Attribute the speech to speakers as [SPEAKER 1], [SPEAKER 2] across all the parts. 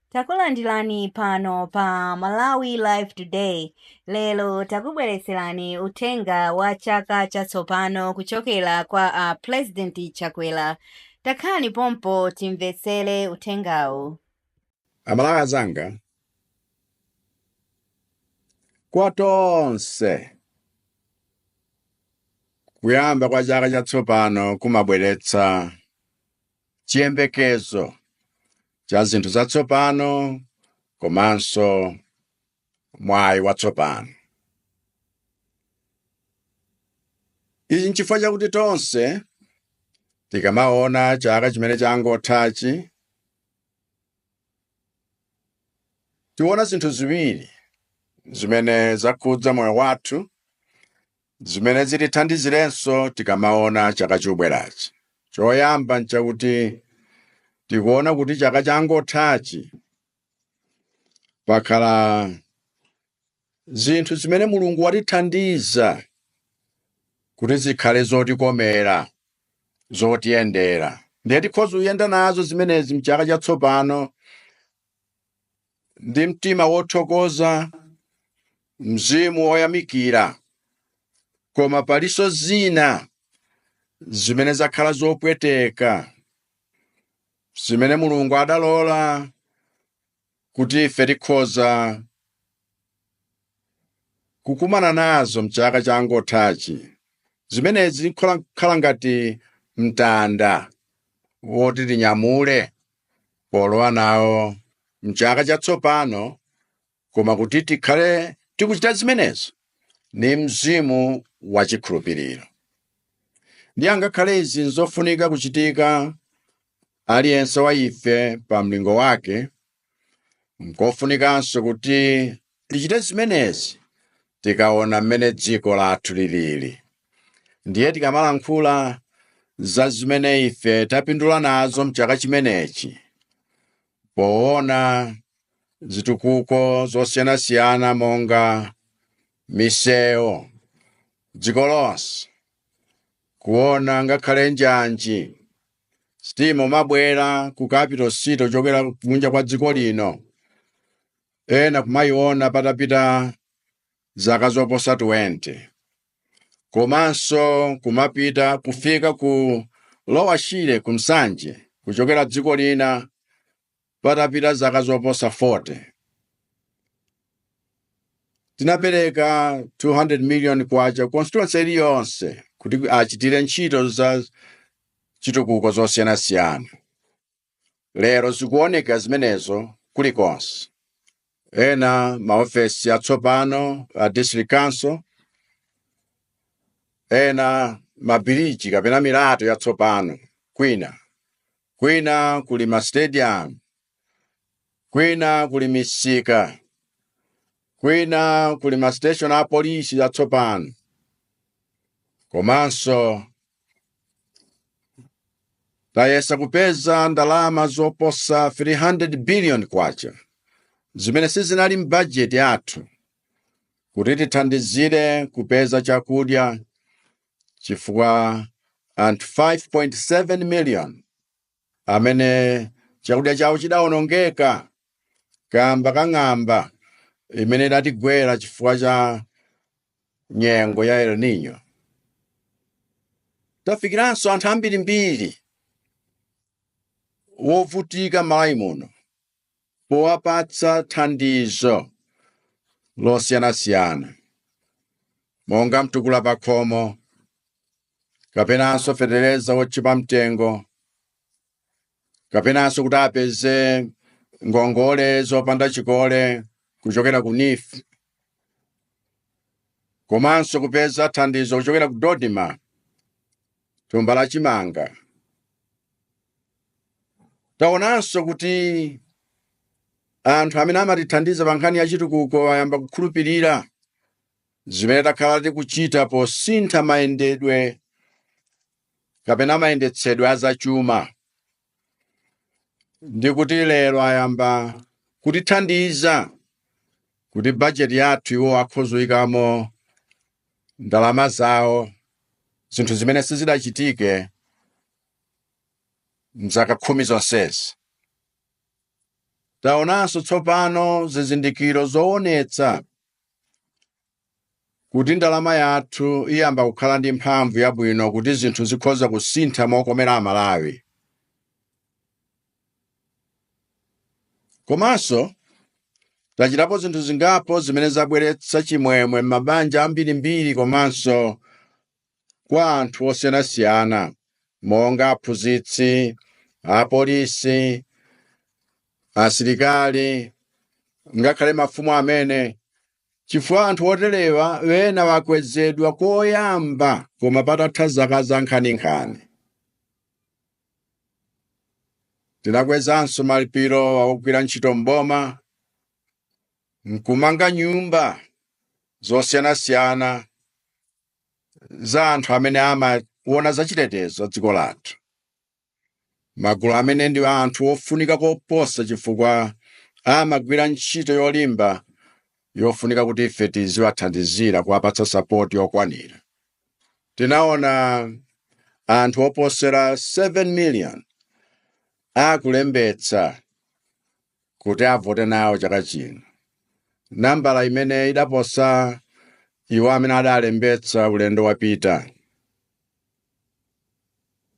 [SPEAKER 1] Takulandirani pano pa Malawi Live Today. Lero takubweretserani uthenga wa chaka chatsopano kuchokera kwa a President Chakwera. Takhalani pompo timvetsere uthengawu.
[SPEAKER 2] Amalawi anzanga, kwa tonse kuyamba kwa chaka chatsopano kumabweretsa chiyembekezo cha zinthu zatsopano komanso mwayi watsopano. Ichi nchifukwa chakuti tonse tikamaona chaka chimene changothachi tikuona zinthu ziwiri zimene zakhudza moyo wathu Zimene zitithandizirenso tikamaona chaka chobwerachi, choyamba n'chakuti tikuona kuti chaka changothachi pakhala zinthu zimene Mulungu watithandiza kuti zikhale zotikomera, zotiyendera. Ndiye tikhoza kuyenda nazo zimenezi m'chaka chatsopano. ndi mtima wothokoza, mzimu woyamikira, koma palinso zina zimene zakhala zopweteka zimene Mulungu adalola kuti ife tikhoza kukumana nazo mchaka changothachi. Zimenezi zikhala ngati mtanda woti tinyamule polowa nawo mchaka chatsopano koma kuti tikhale tikuchita zimenezo ni mzimu wa chikhulupiriro ndiye ngakhale izi nzofunika kuchitika aliyense wa ife pa mlingo wake nkofunikanso kuti Tichite zimenezi tikaona mmene dziko lathu lilili. Ndiye tikamalankhula za zimene ife tapindula nazo m'chaka chimenechi, poona zitukuko zosiyanasiyana monga misewu dziko lonse, kuona ngakhale njanji sitima kumabwera ku capital city kuchokera kunja kwa dziko lino, ena kumayiona patapita zaka zoposa 20 komanso kumapita kufika ku Lower Shire ku Nsanje kuchokera dziko lina patapita zaka zoposa 40 tinapereka 200 million kwacha constituency iliyonse kuti achitire ntchito za chitukuko zosiyanasiyana Lero zikuoneka zimenezo kulikonse. Ena maofesi atsopano a district council, ena mabiriji kapena milato yatsopano kwina, kwina kuli mastadium, kwina kuli misika, kwina kuli mastation a polisi yatsopano, komanso tayesa kupeza ndalama zoposa 300 billion kwacha zimene sizinali m'bajeti yathu kuti tithandizire kupeza chakudya chifukwa cha anthu 5.7 million amene chakudya chawo chidawonongeka kamba ka ng'amba imene idatigwera chifukwa cha nyengo ya El Nino. Tafikiranso anthu ambirimbiri wovutika m'Malawi muno powapatsa thandizo losiyanasiyana monga mtukula pakhomo kapenanso fetereza wochipa mtengo kapenanso kuti apeze ngongole zopanda chikole kuchokera ku NEEF komanso kupeza thandizo kuchokera ku DoDMA thumba la chimanga taonanso kuti anthu amene amatithandiza pa nkhani ya chitukuko ayamba kukhulupirira Zimene takhala tikuchita posintha mayendedwe kapena mayendetsedwe a zachuma ndi kuti lero ayamba kutithandiza kuti bajeti yathu iwo akhoza kuyikamo ndalama zawo zinthu zimene sizidachitike mzaka khumi zonsezi. Taonanso tsopano zizindikiro zoonetsa kuti ndalama yathu iyamba kukhala ndi mphamvu yabwino kuti zinthu zikhoza kusintha mokomera Amalawi komanso tachitapo zinthu zingapo zimene zabweretsa chimwemwe m'mabanja ambirimbiri komanso kwa anthu osiyanasiyana monga aphunzitsi, apolisi, asilikali, ngakhale mafumu amene, chifukwa anthu oterewa ena wakwezedwa koyamba koma patatha zaka zankhaninkhani. Tinakwezanso malipiro a ogwira ntchito m'boma nkumanga nyumba zosiyanasiyana za anthu amene amaona za chitetezo cha dziko lathu. Magulu amene ndi anthu ofunika koposa chifukwa amagwira ntchito yolimba yofunika kuti ife tiziwathandizira kuwapatsa sapoti yokwanira. Tinaona anthu oposera 7 million akulembetsa kuti avote nawo chaka chino nambala imene idaposa iwo amene adalembetsa ulendo wapita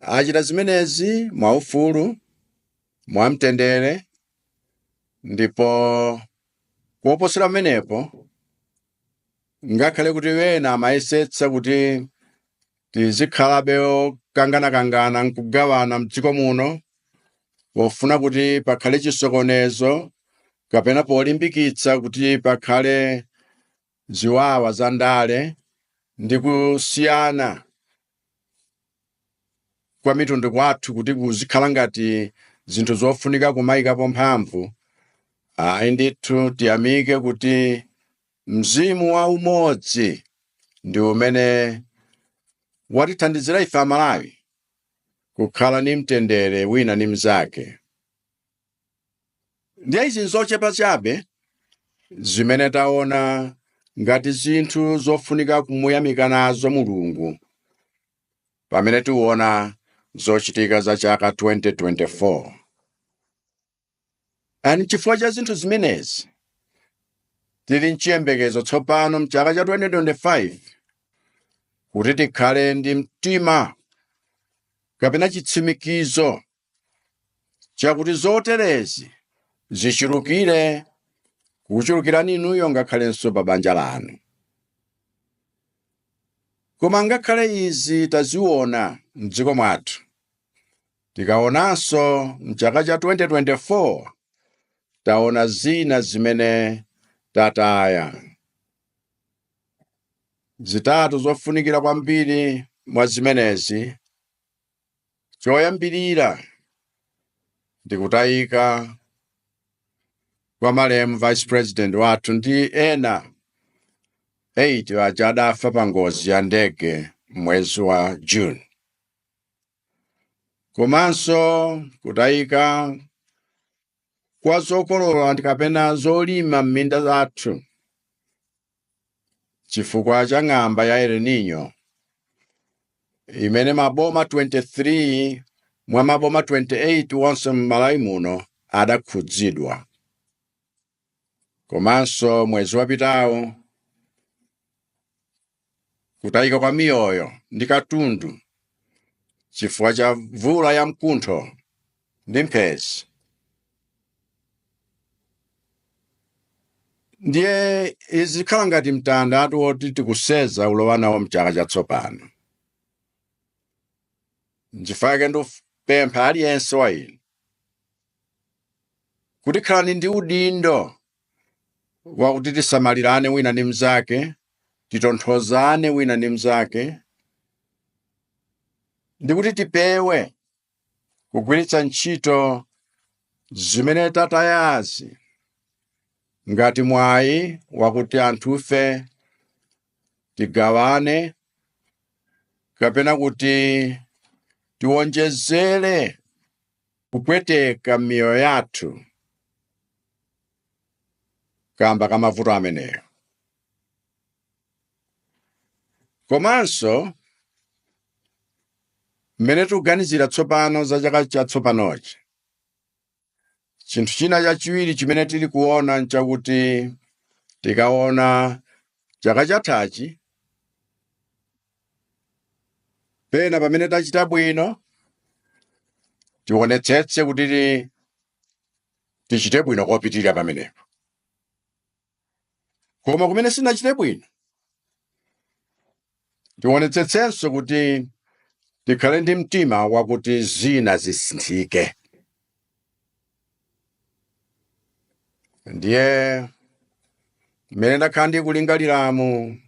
[SPEAKER 2] achita zimenezi mwaufulu mwamtendere ndipo koposera pamenepo ngakhale kuti ena amayesetsa kuti tizikhalabe okanganakangana nkugawana mdziko muno pofuna kuti pakhale chisokonezo kapena polimbikitsa kuti pakhale ziwawa za ndale ndi kusiyana kwa mitundu kwathu kuti kuzikhala ngati zinthu zofunika kumayikapo mphamvu ayi ndithu tiyamike kuti Mzimu wa umodzi ndi umene watithandizira ife Amalawi kukhala ndi mtendere wina ndi mnzake. Ndiye izi n'zochepa chabe zimene taona ngati zinthu zofunika kumuyamika nazo Mulungu pamene tiona zochitika za chaka 2024. Ani chifukwa cha zinthu zimenezi, tili mchiyembekezo tsopano mchaka cha 2025 kuti tikhale ndi mtima kapena chitsimikizo chakuti zoterezi zichulukire kukuchulukirani inuyo ngakhalenso pa banja lanu. Koma ngakhale izi taziona m'dziko mwathu, Tikaonanso m'chaka cha 2024, taona zina zimene tataya. Zitatu zofunikira kwambiri mwa zimenezi, choyambirira ndi kutayika kwa malemu Vice President wathu ndi ena 8 aja adafa pa ngozi ya ndege m'mwezi wa June. komanso kutayika kwa zokolola ndi kapena zolima m'minda zathu chifukwa cha ng'amba ya El Nino imene maboma 23 mwa maboma 28 wonse m'Malawi muno adakhudzidwa. Komanso mwezi wapitawo kutayika kwa miyoyo ndi katundu chifukwa cha mvula ya mkuntho ndi mphezi ndiye izikhala ngati mtandatu woti tikuseza ulowa nawo mchaka chatsopano nchifukwa chake ndikupempha aliyense wa inu kuti khalani ndi udindo wakuti tisamalirane wina ndi mnzake, titonthozane wina ndi mnzake, ndi kuti tipewe kugwiritsa ntchito zimene tatayazi ngati mwayi wakuti anthufe tigawane kapena kuti tiwonjezere kupweteka m'miyoyo yathu kamba ka mavuto ameneyo komanso mmene tikuganizira tsopano za chaka chatsopanochi chinthu china chachiwiri chimene tili kuona nchakuti tikaona chaka chathachi Pena pamene tachita bwino, tionetsetse kuti tichite bwino kopitirira pamenepo. Koma kumene sitinachite bwino, tionetsetsenso kuti tikhale ndi mtima wakuti zina zisinthike. ndiye mmene ndakhala ndikulingaliramu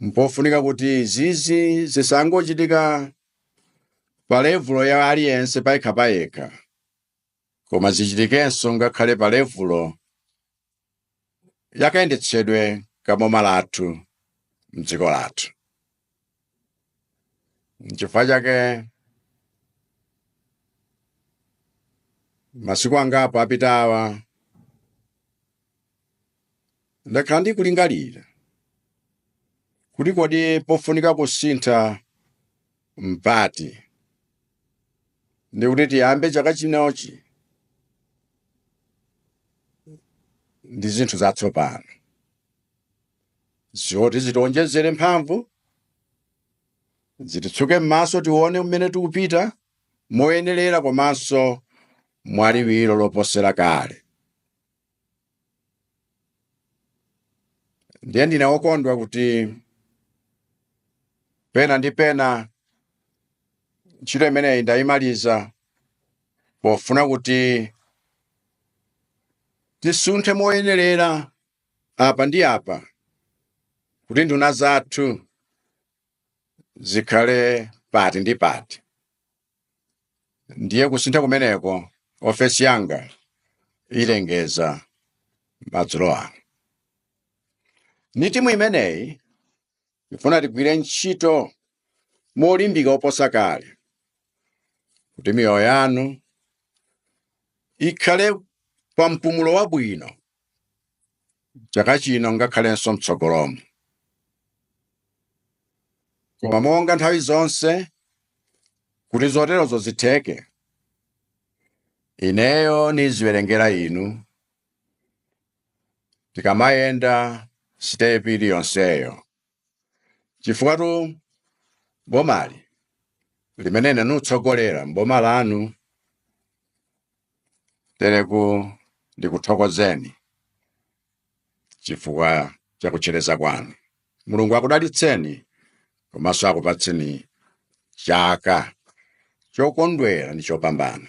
[SPEAKER 2] mpofunika kuti zizi zisangochitika pa levulo ya aliyense payekha payekha koma zichitikenso ngakhale pa levulo ya kayendetsedwe ka boma lathu m'dziko lathu. N'chifukwa chake masiku angapo apitawa ndakhala ndikulingalira kuti kodi pofunika kusintha mpati ndi kuti tiyambe chaka chinochi ndi zinthu zatsopano zoti zitionjezere mphamvu zititsuke m'maso tione mmene tikupita moyenerera komanso mwaliwiro loposera kale ndiye ndine wokondwa kuti pena ndi pena ntchito imeneyi ndayimaliza pofuna kuti tisunthe moyenerera apa ndi apa kuti nduna zathu zikhale pati ndi pati ndiye kusintha kumeneko ofesi yanga ilengeza madzulo ano ni timu imeneyi nifuna tigwire ntchito molimbika oposa kale kuti miyoyo yanu ikhale pa mpumulo wabwino chaka chino ngakhalenso mtsogolomo. Koma monga nthawi zonse, kuti zoterozo zitheke, ineyo niziwerengera inu tikamayenda sitepi iliyonseyo. chifukwatu bomali limene ine nikutsogolera mboma lanu tereku ndikuthokozeni chifukwa cha kutchereza kwanu mulungu akudalitseni komanso akupatseni chaka chokondwera ndi chopambana